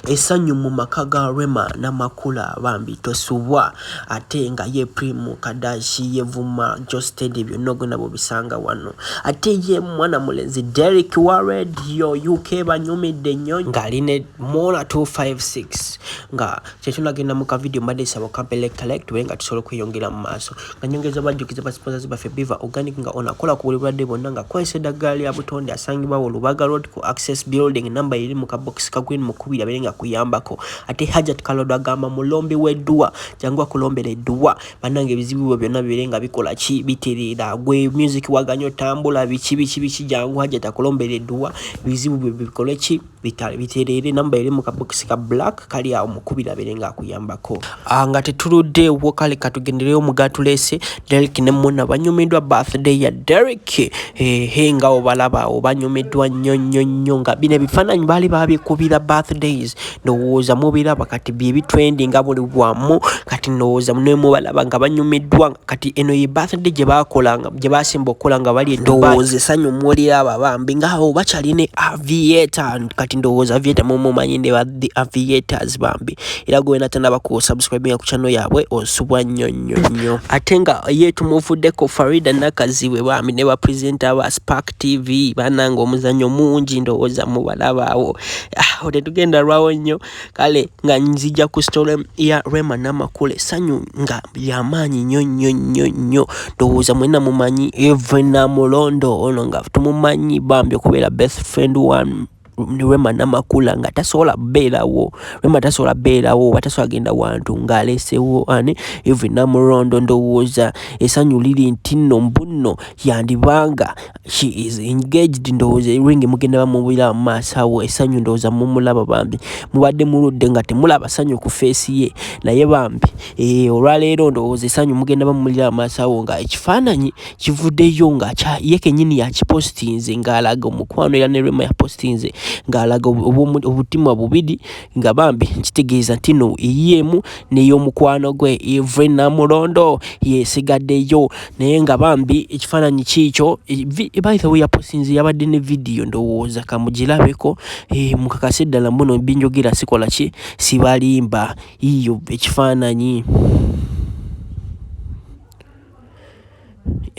Esanyu mu maka ga Rema Namakula bambi tosubwa ate nga ye Primu Kadashi yevuma Josted byonna ogenda bubisanga wano ate ye mwana mulenzi Derek wa radio UK banyumidde nnyo ng'ali ne Mola 256 nga kyetunagenda mu ka video mbadde nsaba okapele collect we nga tusobola okweyongera mu maaso. Kanyongeza bajjukiza ba sponsors baffe Biva Organic nga ono akola ku buli bulwadde bwonna nga akozesa eddagala lya butonde asangibwa wo Lubaga Road ku Access Building namba eri mu kabokisi ka green mukubiri abeere nga kuyambako ate Hajat Kalodo agamba mulombi w'edduwa jangu akulombera edduwa bannange ebizibu byo byonna bibeere nga bikola ki bitereera gwe music waganya otambula biki biki biki jangu Hajat akulombera edduwa ebizibu byo bikole ki bitereere namba eri mu kabokisi ka black kali awo mukubira abeere ng'akuyambako ah, nga tetuluddeewo kale katugendereyo mugatulese derik ne muna banyumiddwa birthday ya derik ehe nga obalaba awo banyumiddwa nnyo nnyo nnyo nga bino ebifaananyi baali babikubira birthdays ndowooza mubiraba kati bye bitrendinga buli wamu kati ndowooza nemubalaba nga banyumiddwa kati eno ye birthday gye baakolanga gye baasemba okukola nga bali ndowooza esanyu muwulira abo abambi ngaawo bakyali ne avieta kati ndowooza avieta mumumanyi ne ba the aviators bambi era gwe wena tanaba ku subscribinga ku kyano yaabwe osubwa nnyo nnyo nnyo ate nga ye tumuvuddeko farida nakazibwe bambi ne bapresenta ba spark tv bananga omuzannyo mungi ndowooza mubalabaawo ah, awo tetugenda lwawo nnyo kale nga nzija ku story ya Rema Namakule sanyu nga yamaanyi nnyo nnyo nnyo nnyo ndowooza mwena mumanyi eve namulondo ono nga tumumanyi bambi okubeera best friend one Rema Namakula nga tasobola beerawo Rema tasobola beerawo oba tasobola genda wantu ng'aleesewo ani even namulondo ndowooza esanyu liri nti nno mbunno yandibanga She is engaged ndowooza ring mugenda bamubulira mu maaso awo esanyu ndowooza mumulaba bambi mubadde muludde nga temulaba sanyu ku feesi ye naye bambi eh, olwaleero ndowooza esanyu mugenda bamulira amaaso awo nga ekifaananyi kivuddeyo nga ye kenyini yakipostinze ng'alaga omukwano era ne rema yapostinze ng'alaga obutima bubiri nga bambi nkitegeeza ntino eyiemu n'ey'omukwano gwe evre namulondo yesigaddeyo naye nga bambi ekifaananyi kiikyo e, e, by the way yaposinze yabadde ne vidiyo ndowooza kamugirabeko e, mukakase ddala mbuno binjogera sikola ki sibalimba iyo ekifaananyi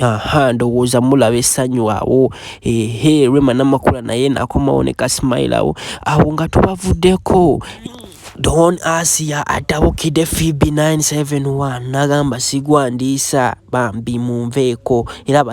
aha ndowooza mulaba essanyu awo ehe rema namakula naye nakomawo ne kasimayilawo awo nga tubavuddeko Don Asia atabukidde Fibi 971 n'agamba sigwa ndiisa bambi munveeko era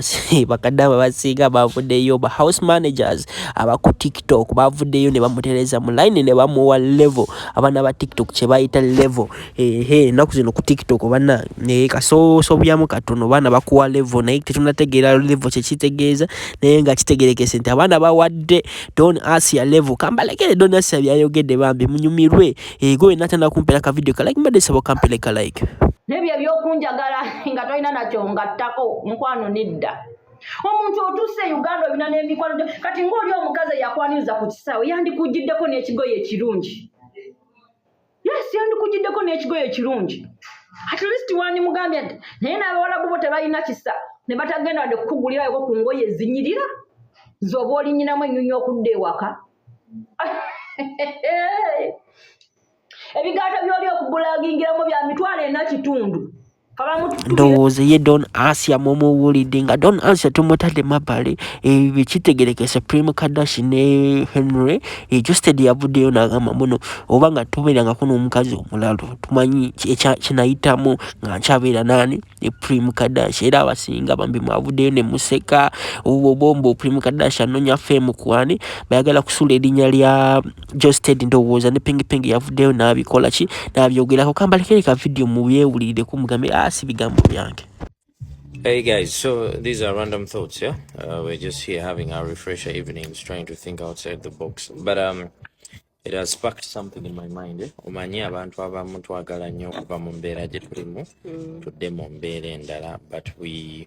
bakadama basinga bavuddeyo ba house managers aba ku tiktok bavuddeyo ne bamutereza mu line ne bamuwa level abaana ba tiktok kye bayita level ehe ennaku zino ku tiktok bana naye kasoosobyamu katono baana bakuwa level naye tetunategeera level kye kitegeeza naye nga kitegerekese nti abaana bawadde don asia level kambalekere don asia byayogedde bambi munyumirwe ego eh, wena tana kumpera ka video kalike mbadde sabo kampere ka like nebyo ebyokunjagala nga tolina nakyo ngattako mukwano nedda omuntu otuuse e uganda olina n'emikwano kati ngaoli omukazi eyakwaniriza ku kisaawe yandikujiddeko n'ekigoyo ekirungi yes yandikujiddeko n'ekigoye ekirungi at least wandimugambye nti naye n'abawalabu bo tebalina kisa ne batagenda wadde kukugulirayoko ku ngoye ezinyirira zoba olinyinamu ennyunya okudda ewaka ebigaata byoli okugulagingiramu bya mitwalo ena kitundu ndowooza ye don asia mumuwulidde nga don asia tumutadde mabbali eh, ekitegereke supreme kadash ne henry ejusted eh, yavuddeyo nagamba muno oba nga tubeerangako n'omukazi omulalu tumanyi kinayitamu nga nkyabeera nani eprime eh, kadash era abasinga bambi mwavuddeyo ne museka obombo prime kadash anonya fame kwani bayagala kusula erinnya lya Josted ndowooza ne Ping Ping yavuddeyo n'abikola ki n'abyogerako kambalekere ka vidiyo mu byewulirire ku mugambe ah, si bigambo byange Hey guys, so these are random thoughts, yeah? Uh, we're just here having our refresher evenings, trying to think outside the box. But um, it has sparked something in my mind. Eh? Omanyi abantu abamu twagala nnyo okuva mu mbeera gye tulimu mm. tudde mu mbeera endala but we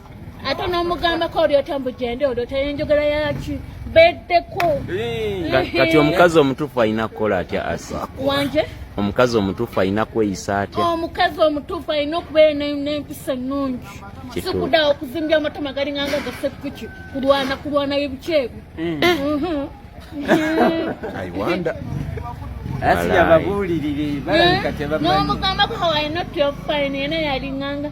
ate nomugambako oli otambujende oli otayenjogera yaki beddeko kati omukazi omutuufu alina kukola atya asi wanje omukazi omutuufu alina kweyisa atya omukazi omutuufu alina okubeera nempisa ennungi sikudawo okuzimbya amatama galinga nga gasekuki kulwana kulwana bibukyebu mm. mhm. nomugambako hawalina otyofine yena yalinganga